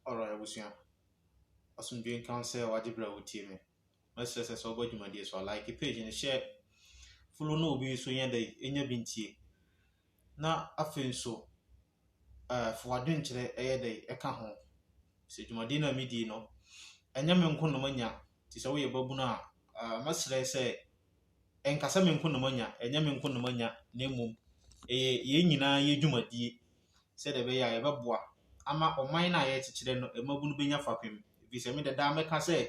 Alright abusua, asomdwoe nka wo sɛ wagye berɛ a wotie me. Mɛsrɛ sɛ sɛ wobɔ dwumadie so a, like page no, share, follow na obi nso nyɛ dɛ ɛnya bi ntie. Na afei nso, uh, fa w'adwenkyerɛ ɛyɛ dɛ ɛka ho. Sɛ dwumadie no a medie no, ɛnyɛ me nko na manya, te sɛ woyɛ babunu a, uh, mɛsrɛ sɛ ɛnkasa me nko na manya, ɛnyɛ me nko na manya, na mmom ɛyɛ yɛn nyinaa yɛ dwumadie. sɛdeɛ ɛbɛyɛ a yɛbɛboa ama ɔman no a yɛrekyekyerɛ no mmabunu bɛnya fapem. Ɛfiri sɛ me de daa meka sɛ,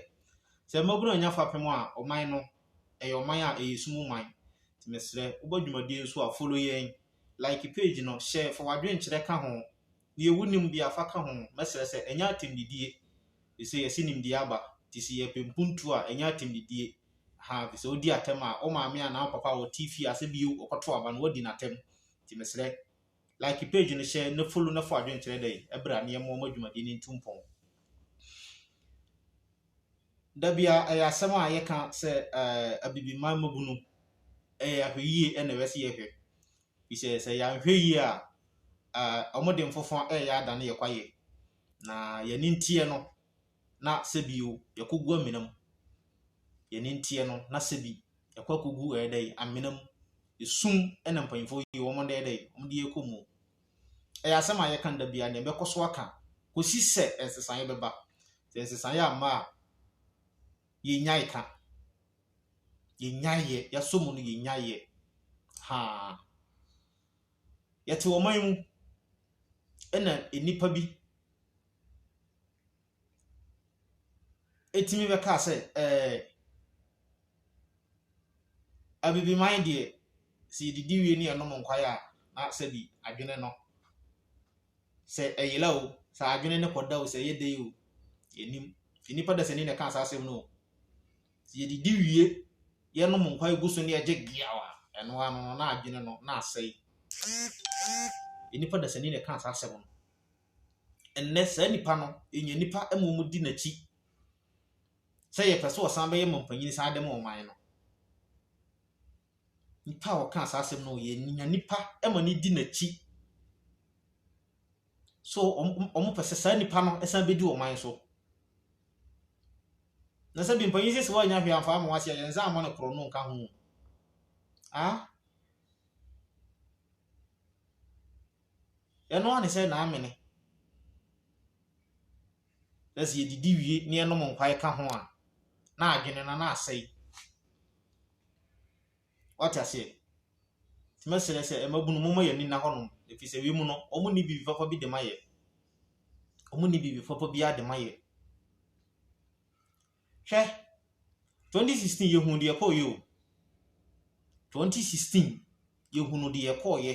sɛ mmabunu annya fapem a, ɔman no, ɛyɛ ɔman a ɛyɛ sum man. Nti mesrɛ, wobɔ dwumadie nso a, follow yɛn, like page no, share, fa w'adwenkyerɛ ka ho. Deɛ wonim biara fa ka ho. Mɛsrɛ sɛ, ɛnyɛ atɛmdidie. Ɛfiri sɛ yɛse nimdeɛ aba. Nti sɛ yɛpɛ mpuntuo a, ɛnyɛ atɛmdidie. Ahaa, ɛfiri sɛ wodi atɛm a, wo maame anaa wo papa a ɔte fie a sɛ bio ɔkɔto aba no, woadi no atɛm. Nti mesrɛ. Like page no hyɛ na follow na fa adwenkyerɛ dɛ ɛbra ne yɛmmoa ma dwumadie no ntu mpɔn. Da bia ɛyɛ asɛm a yɛka sɛ eh, abibiman mmabunu ɛyɛ ahwɛyie ɛna ɛwɛ sɛ yɛhwɛ bisɛ sɛ yɛanhwɛ yie a eh, wɔde mfofa ɛyɛ adane yɛ kwayɛ na yɛne nteɛ no na sɛ bi o yɛkɔ gu amena mu, yɛne nteɛ no na sɛ bi yɛkɔ akɔ gu ɛyɛ dɛ amena mu, esum ɛna mpanyinfoɔ yi wɔn ɛyɛ dɛ wɔn de yɛkɔ mu. Ɛyɛ asɛm a yɛka da bia na ɛbɛkɔ so aka kɔsi sɛ nsesaeɛ bɛba. Sɛ nsesaeɛ amma a yɛnyae ka, yɛnyaeɛ, yɛasɔ mu no yɛnyaeɛ haa. Yɛte ɔman mu ɛna nnipa bi tumi bɛkaa sɛ, ɛɛ, Abibiman deɛ, sɛ yɛdidi wie na yɛnom nkwae a, na sɛbi adwene no, sɛ ɛyera o, sɛ adwene no kɔda o, sɛ ɛyɛ dɛ yi o, yɛnnim. Nti nnipa dasani na ɛkaa saa asɛm no o. Sɛ yɛdidi wie, yɛnom nkwae gu so na yɛgye geaw a, ɛno ara no, na adwene no, na asɛe. Nnipa dasani na ɛkaa saa asɛm no. Ɛnnɛ, saa nipa no nya nnipa mmom di n'akyi sɛ yɛpɛ sɛ ɔsan bɛyɛ mampanyin san de ma ɔman no. Nipa a ɔkaa saa asɛm no, yɛnya nipa ma no di n'akyi. So wɔpɛ sɛ saa nipa no san bɛdi ɔman so. Na sɛ bi mpanyin sisi hɔ annya hwee amfa ama wɔase a, yɛn nsa amma no korɔno nka ho. Ah? Ɛno ara ne sɛ na amene. Na sɛ yɛdidi wie na yɛnom nkwae ka ho a, na adwene no na asɛe. Wate aseɛ? Nti mɛsrɛ sɛ mmabunu momma yɛn ani nna hɔnom, ɛfiri sɛ wei mu no, wɔnni biribi papa bi de ma yɛn. Wɔnni biribi papa biara de ma yɛn. Hwɛ, 2016 yɛhunu deɛ ɛkɔɔyɛ o. 2016 yɛhunu deɛ ɛkɔɔyɛ.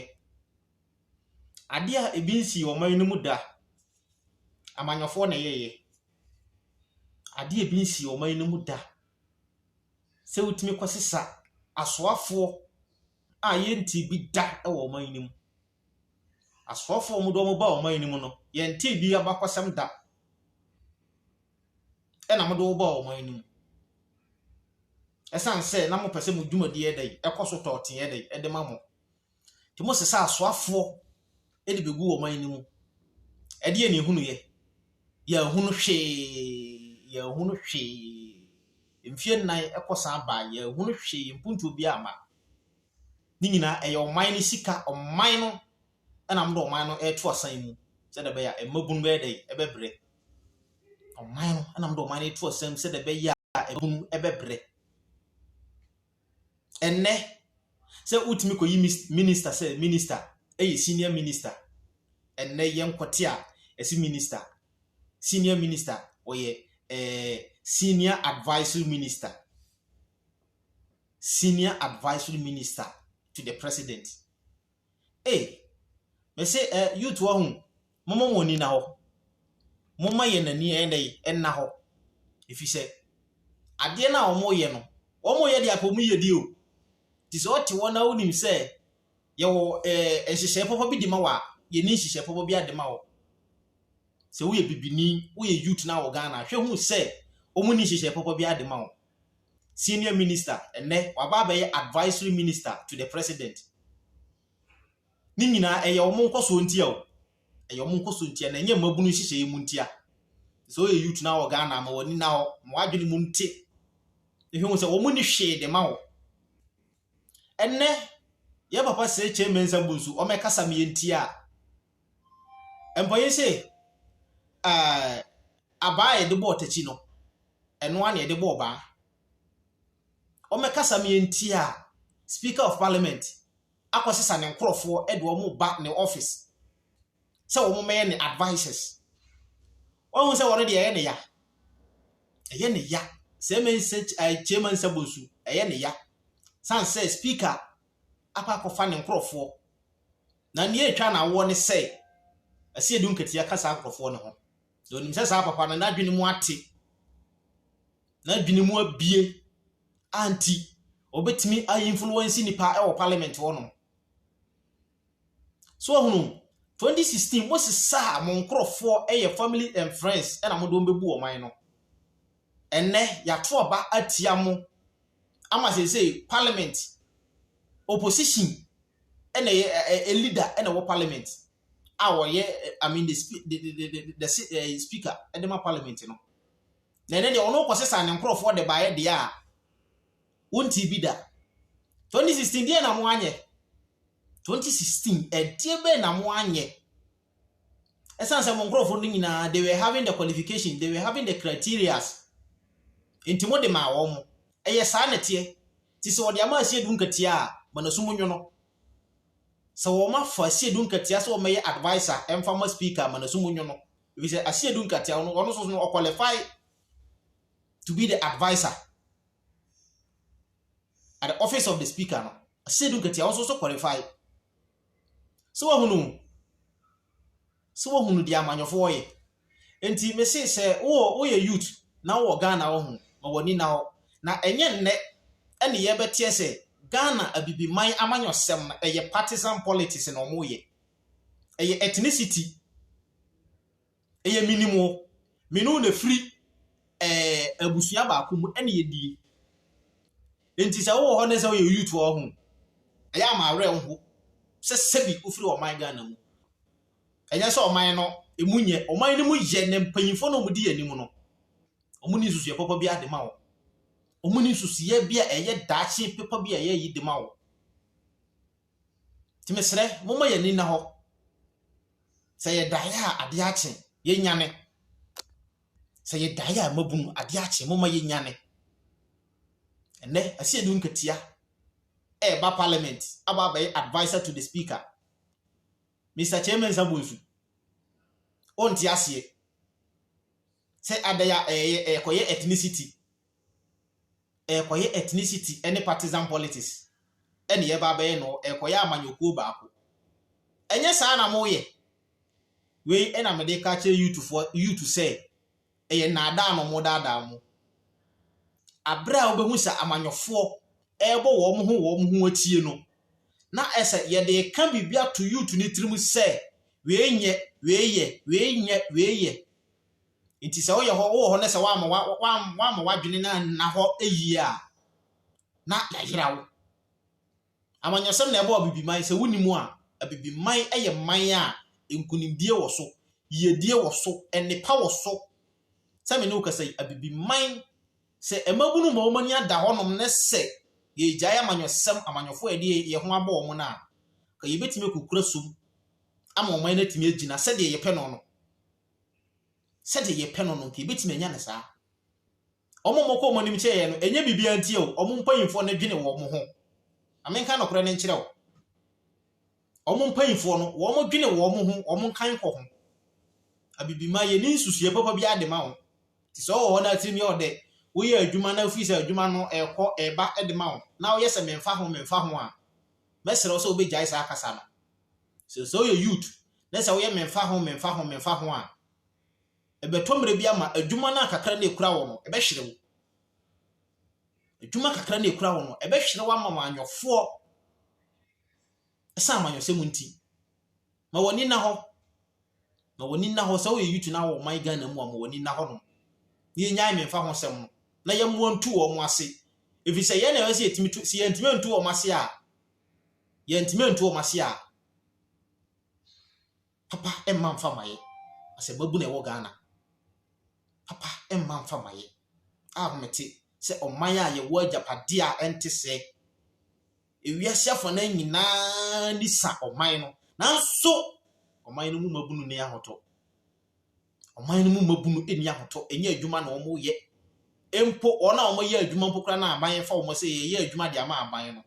Adeɛ a ebi nsii ɔman no mu da, amanyɔfoɔ na ɛyɛeɛ. Adeɛ a ebi nsii ɔman no mu da, sɛ wotumi kɔsesa asoafoɔ a yɛntee bi da wɔ ɔman no mu. Asoɔfoɔ wɔn de wɔn baa ɔman no mu no, yɛntee bi abakɔsɛm da. Ɛna mode wɔn baa ɔman no mu. Ɛsiane sɛ na mopɛ sɛ mo dwumadi yɛ dɛn, ɛkɔ so tɔɔte yɛ dɛn, ɛde ma mo. Nti mosesa asoafoɔ de bɛgu ɔman no mu. Ɛdeɛ ne ehunu yɛ? Yɛahunu hwee, yɛahunu hwee. Mfie nnan ɛkɔ san baa, yɛahunu hwee, mpuntuo biara amma. Ne nyinaa ɛyɛ ɔman no sika, ɔman no ɛna wɔde ɔman no ɛreto asan mu sɛdeɛ ɛbɛyɛ a mmabunu bɛyɛ dɛ ɛbɛbrɛ. Ɔman no ɛna wɔde ɔman no ɛreto asan mu sɛdeɛ ɛbɛyɛ a mmabunu ɛbɛbrɛ. Ɛnɛ sɛ wotumi kɔyi minista sɛ minista ɛyɛ senior minista. Ɛnɛ yɛn kɔte a ɛsi minista senior minista ɔyɛ ɛɛ eh, senior advisory minister. senior advisory minister to the president ei mese ɛ eh, youth wɔ ho mɔmɔ wɔn ani na hɔ mɔmɔ yɛn ani ɛnna yi ɛnna hɔ efi sɛ adeɛ na wɔn yɛ no wɔn yɛ deɛ apɔ mu yɛ di o te sɛ ɔte hɔ na wonim sɛ yɛwɔ ɛɛ eh, nhyehyɛe pɔpɔ bi de ma wɔ a yɛn ni nhyehyɛe pɔpɔ bi ade ma wɔ sɛ woyɛ bibini woyɛ youth na wɔ Ghana hwɛ hu sɛ wɔn ni nhyehyɛe pɔpɔ bi ade ma wɔ. senior minister, ɛnnɛ waba abɛyɛ advisory minister to the president. Ne nyinaa ɛyɛ wɔn nkɔsoɔ ntia o, ɛyɛ wɔn nkɔsoɔ ntia na ɛnyɛ mmabunu nhyehyɛeɛ mu ntia. Sɛ ɔyɛ youth na wɔ Ghana ma wɔn ani na hɔ, ma wɔadwene mu nte. Ehwɛ wɔn sɛ wɔn ni hwee de ma wɔ. Ɛnnɛ yɛ papa sɛ Kyɛ Mensah Bonsu, wɔn ɛkasa meyɛ ntia a, Mpɔyɛ sɛ abaa a yɛde bɔ ɔtakyi no, ɛno ara na yɛde bɔ ɔbaa. Wɔbɛkasa ma yɛntie a, Speaker of Parliament akɔsesa ne nkorɔfoɔ de wɔn reba ne office sɛ wɔmmɛyɛ ne advisers. Wahu sɛ wɔn deɛ ɛyɛ ne ya. Ɛyɛ ne ya. Sɛ ɛma nsa kyɛma nsa bɔ nsu, ɛyɛ ne ya. San sɛ Speaker akɔ akɔfa ne nkorɔfoɔ Na nea etwa no awoɔ ne sɛ, ɛsɛ yɛde nkatia ka saa nkurɔfoɔ no ho, na onim sɛ saa papa no n'adwene mu ate, n'adwene mu abue a nti ɔbɛtumi ainfluence nnipa wɔ parliament hɔnom. So ahunu, 2016 mosesaa mo nkurɔfoɔ yɛ family and friends na mode wɔn bɛbu ɔman no. Ɛnnɛ, yɛato aba atia mo ama seesei parliament opposition ɛna ɛyɛ ɛ leader ɛna ɛwɔ parliament a wɔyɛ i mean the speak the the the the speaker ɛde ma parliament no na ɛnɛ deɛ ɔno kɔ sesa ne nkorɔfoɔ de baayɛ deɛ a wɔnti bi da 2016 deɛ na mo anyɛ 2016 ɛdeɛ bɛyɛ na mo anyɛ. Ɛsan sɛ mo nkorɔfoɔ no nyinaa they were having the qualification, they were having the criterias. Nti mo de maa wɔn mo. Ɛyɛ saa na teɛ. Ti sɛ wɔde ama asie du nkatia a, ma na sumu nyono. Sɛ wɔn afa asie du nkatia sɛ wɔn mɛyɛ advisor ɛnfa ma speaker ma na sumu nyono. Ebi sɛ asie du nkatia wɔn wɔn soso no qualify to be the advisor at the office of the speaker no. Asie du nkatia wɔn soso qualify. So wahunu? So wahunu deɛ amanyɔfoɔ yɛ? Nti mese sɛ wowɔ woyɛ youth na wowɔ Ghana wɔ ho ma w'ani na hɔ na ɛnyɛ nnɛ ɛne yɛbɛteɛ sɛ Ghana abibiman amanyɔsɛm no ɛyɛ partisan politics na wɔyɛ ɛyɛ ethnicity Ɛyɛ menim wo. Me ne wo na firi ɛɛ abusua baako mu ɛna yɛdie. Nti sɛ wowɔ hɔ ne sɛ woyɛ youth wɔ ho. Ɛyɛ a m'awerɛ nho sɛ sɛbi wofiri ɔman Ghana mu. Ɛnyɛ sɛ ɔman no ɛmu nyɛ. Ɔman no mu yɛ na mpanyinfoɔ no a wɔdi yɛn anim no wɔn ni nsusuɛ papa bi ara de ma wo. Wɔn ni nsusuɛ bi a ɛyɛ daakye papa bi a ɛyɛ yi de ma wo. Nti mesrɛ, momma yɛn ani nna hɔ. Sɛ yɛdaeɛ a, adeɛ akye. Yɛnyane. Sɛ yɛdaeɛ a, mmabunu, adeɛ akye. Momma yɛnyane. Ɛnɛ, Asiedu Nkatia ɛreba parliament aba abɛyɛ adviser to the speaker. Mr. Kyerɛmansa Bonsu, wonte aseɛ sɛ adɛn a ɛyɛ ɛkɔyɛ ethnicity ɛrekɔyɛ ethnicity ne partisan politics na yɛreba abɛyɛ no, ɛrekɔyɛ amanyɔkuo baako. Ɛnyɛ saa na moyɛ. Wei na mede ka kyerɛ youthfoɔ youth sɛ ɛyɛ nnaadaa na wɔdaadaa mo. Aberɛ a wobɛhu sɛ amanyɔfoɔ ɛrebɔ wɔn ho wɔn ho atie no, na ɛsɛ yɛde ka biribi ato youth no tirim sɛ wei nyɛ, wei yɛ, wei nyɛ, wei yɛ. Nti sɛ woyɛ hɔ, wowɔ hɔ na sɛ woamma wa, wa, woamma w'adwene no anna hɔ yie a, na yɛayera wo. Amanyɔsɛm na ɛbɔɔ Abibiman. Sɛ wonim a, Abibiman yɛ man a nkunimdie wɔ so, yiedie wɔ so, nnepa wɔ so. Sɛ me ne wo kasa yi, Abibiman, sɛ mmabunu ma wɔn ani ada hɔnom ne sɛ yɛregyae amanyɔsɛm, amanyɔfoɔ a yɛde yɛn ho abɔ wɔn no a, ka yɛbɛtumi akukura som ama ɔman no atumi agyina sɛdeɛ yɛpɛ no no. sɛdeɛ yɛpɛ no no nti yɛbɛtumi anya no saa. Wɔn a wɔkɔ wɔn anim kyɛ yɛn no, ɛnyɛ biribiara nti o, wɔn mpanimfoɔ no dwene wɔn ho. Na menka nokorɛ no nkyerɛ wo. Wɔn mpanimfoɔ no, wɔn dwene wɔn ho, wɔn nkan kɔ ho. Abibima, yɛni nsusuiɛ papa biara de ma wo. Te sɛ ɔwɔ hɔ na tirim yɛ ɔdɛ, woyɛ adwuma na wofiri sɛ adwuma no ɛrekɔ ɛreba de ma wo, na woyɛ sɛ memfa ho memfa ho a, mɛsrɛ wo sɛ wobɛgyae saa kasa no. So sɛ woyɛ youth na sɛ woyɛ memfa ho memfa ho memfa ho a, ɛbɛtɔ mmerɛ bi ama adwuma no a kakra na ɛkura wɔ no, ɛbɛhwere wo. Adwuma kakra na ɛkura wɔ no, ɛbɛhwere wo ama wanyɔfoɔ ɛsan amanyɔsɛ mu nti. Ma w'ani nna hɔ. Ma w'ani nna hɔ sɛ woyɛ youth na wɔ ɔman Ghana mu a ma w'ani nna hɔ nom. Na yɛnyae memfa ho sɛm no na yɛmmoa ntu wɔn ase. Ɛfiri sɛ yɛn na ɛwɔ sɛ yɛtumi tu, sɛ yɛntumi ntu wɔn ase a, yɛntumi nto wɔn ase a, papa mma mfa ma yɛ. Asɛmmabu na ɛwɔ Ghana. Papa mma mfa ma yɛ. A mete sɛ ɔman a yɛwɔ agyapadeɛ a ɛnte sɛ ewiase afɔnan nyinaa ni sa ɔman no. Nanso ɔman no mu mmabunu ne ahotɔ. Ɔman no mu mmabunu nni ahotɔ, ɛnyɛ adwuma na wɔyɛ mpo. Wɔn a wɔyɛ adwuma mpo koraa na aban fa wɔn sɛ yɛyɛ adwuma de ama aban no.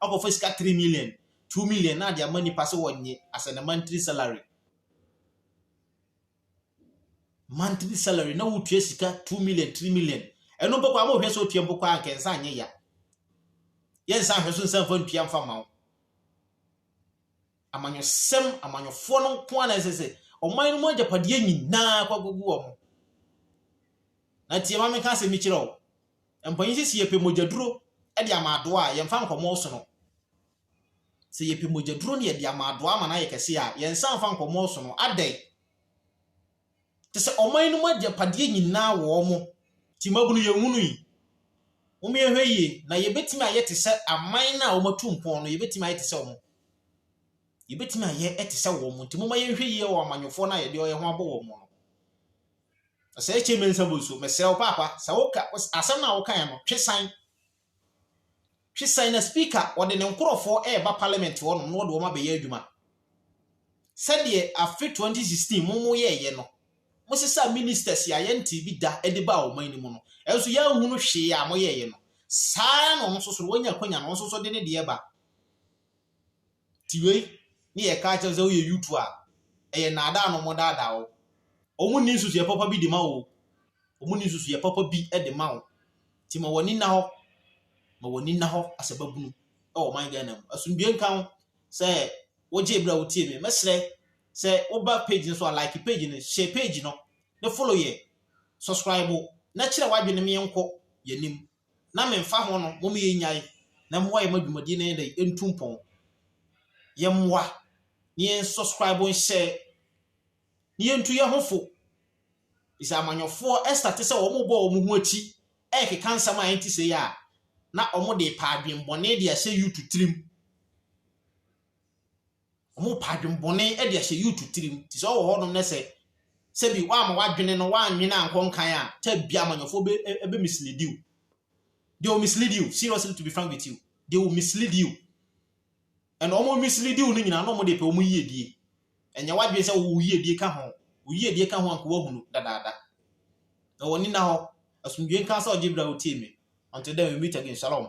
Akɔfa sika 3 million, 2 million na de ama nnipa sɛ wɔnye as in a monthly salary. Monthly salary na wotua sika 2 million, 3 million. Ɛno mpo koraa mohwɛ sɛ otua mpo koraa anka nsa anyɛ ya. Yɛnsa nhwɛ so nsa mfa ntua mfa ma wo. amanyɔsɛm, amanyɔfoɔ no nko ara na ɛsɛ sɛ ɔman no mu agyapadeɛ nyinaa kɔ agogu wɔn. Na tie ma menka asɛm bi kyerɛ wo. Mpanyin sɛ sɛ yɛpɛ mogyaduro de ama adoa a, yɛmfa nkɔmmɔ so no. Sɛ yɛpɛ mogyaduro na yɛde ama adoa ama no ayɛ kɛse a, yɛnsa mfa nkɔmmɔ so no. Adɛn? Kyerɛ sɛ ɔman no mu agyapadeɛ nyinaa wɔ wɔn. Nti mmabunu yɛnhunu yi. Mommyɛhwɛ yie na yɛbɛtumi ayɛ te sɛ aman no a wɔatu mpɔn no, yɛbɛtumi ayɛ te sɛ wɔn. Yɛbɛtumi ayɛ te sɛ wɔn. Nti momma yɛnhwɛ yie wɔ amanyɔfoɔ no a yɛde yɛn ho abɔ wɔn no. Sɛ ɛkyɛ mɛnsa bu nso, mesrɛ wo paapa, sɛ woka asɛm no a wokaeɛ no, twe san. Twe sɛn na Speaker ɔde ne nkorɔfoɔ reba Parliament hɔ nom na ɔde wɔn abɛyɛ adwuma? Sɛdeɛ afe 2016 mo mo yɛɛyɛ no, mo sesaa Ministers a yɛntee bi da de baa ɔman no mu no, nanso yɛanhunu hwee a mo yɛɛyɛ no. Saa ara na ɔno nso so no, wanya akwanya no, ɔno nso so de ne deɛ ba. Ti wei ne yɛ ka kyerɛ wo sɛ wo yɛ yutu a ɛyɛ naadaa na ɔmɔ daadaa wo ɔmɔ nni nsusu yɛ papa bi de ma wo ɔmɔ nni nsusu yɛ papa bi de ma wo ti ma wɔni na hɔ ma wɔni na hɔ asɛ ba bunu ɛwɔ man Ghana mu asundue nka ho sɛ wogye ebira wo tie me mɛsrɛ sɛ wo ba page no so a like page no share page no ne follow yɛ subscribe na kyerɛ wadwe ne me yɛn kɔ yɛ nim na memfa ho no mom yɛnyae na moa yɛma dwumadie no yɛ dɛ ɛntu mpɔn yɛ mmoa na yɛn subscribe nhyɛ na yɛntu yɛ ho fo ɛsɛ amanyɔfoɔ ɛsta te sɛ wɔn bɔ wɔn ho akyi ɛkeka nsɛm a ɛnti sɛ yɛ a na wɔn de pa adwenbɔne de ahyɛ YouTube tirim Ɔmo pa adwenbɔne de ahyɛ youth tirim. Te sɛ ɔwɔ hɔnom na sɛ sɛbi woama w'adwene no w'annwene ankɔ nkan a, time bi amanyɔfoɔ bɛ ɛbɛ mislead you. They will mislead you. Seriously to be frank with you. They will mislead you. And ɔmo mislead you no nyinaa na ɔmo de pɛ ɔmo yiedie. Ɛnyɛ w'adwene sɛ wo yiedie ka ho. Wo yiedie ka ho anka wahunu dadaada. Na wɔn nina hɔ. Asomdwie nka sɛ ɔgye bra wotie me. Until then we meet again. Shalom.